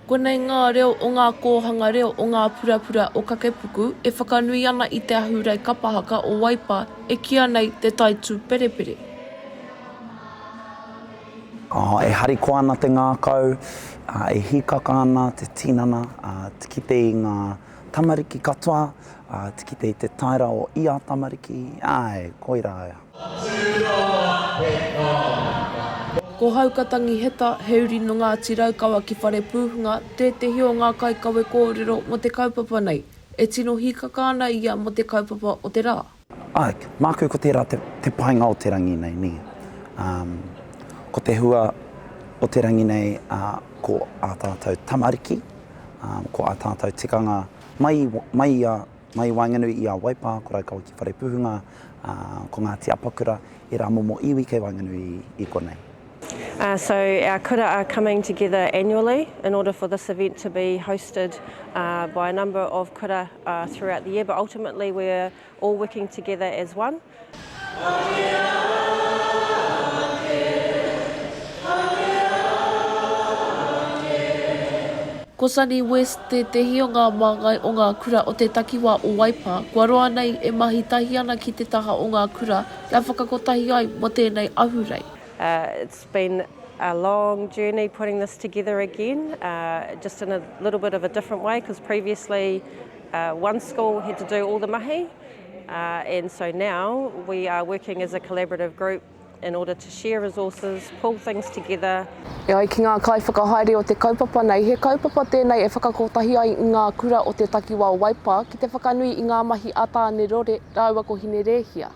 Konei ngā reo o ngā kōhanga reo o ngā purapura o Kakepuku e whakanui ana i te ahurei kapa haka o Waipa e kīa nei Te Tai Tūperepere. E harikoa ana te ngākau, e hīkaka ana te tinana ki te i ngā Tamariki katoa, ā, ki te, te taera o ia tamariki, āe, koirā ia. Ko Hauka Tangiheta, he uri nō Ngāti Raukawa ki Wharepūhunga, tētehi o ngā kaikawe kōrero mō te kaupapa nei, e tino hīkaka ana ia mō te kaupapa o te rā. Āe, māku ko tērā te painga o te rangi nei, nē. Ko te hua o te rangi nei ko ā tātou tamariki, ko ā tātou tikanga mai i waenganui i a Waipā, ko Raukawa ki Wharepuhunga, ko Ngāti Apakura, ērā momo iwi kei waenganui i konei. So our kura are coming together annually in order for this event to be hosted by a number of kura throughout the year but ultimately we're all working together as one. Ko Sunny West tētehi o ngā māngai o ngā kura o te takiwā o Waipā kua roa nei e mahi tahi ana ki te taha o ngā kura kia whakakotahi ai mō tēnei ahurei. It's been a long journey putting this together again, just in a little bit of a different way because previously one school had to do all the mahi and so now we are working as a collaborative group in order to share resources, pull things together. E ai ki ngā kaiwhakahaere o te kaupapa nei, he kaupapa tēnei e whakakotahi ai ngā kura o te takiwā o Waipa ki te whakanui i ngā mahi a Tāne Rore rāua ko Hinerēhia.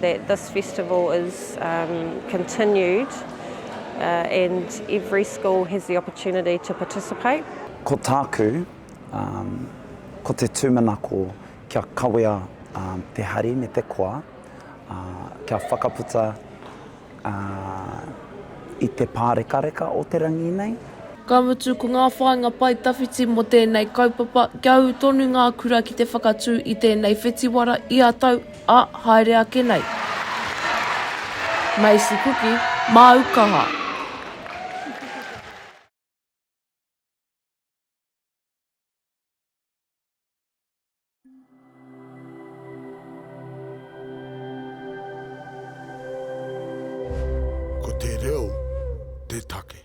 that this festival is continued and every school has the opportunity to participate. Ko tāku, ko te tūmanako kia kawea te hari me te koa, kia whakaputa, ā, i te pārekareka o te rangi nei. Ka mutu, ko ngā whāinga pae tawhiti mō tēnei kaupapa, kia ū tonu ngā kura ki te whakatū i tēnei whetiwara ia tau, ā, haere ake nei. Macy Kuki, māu kaha. Ko te reo te take.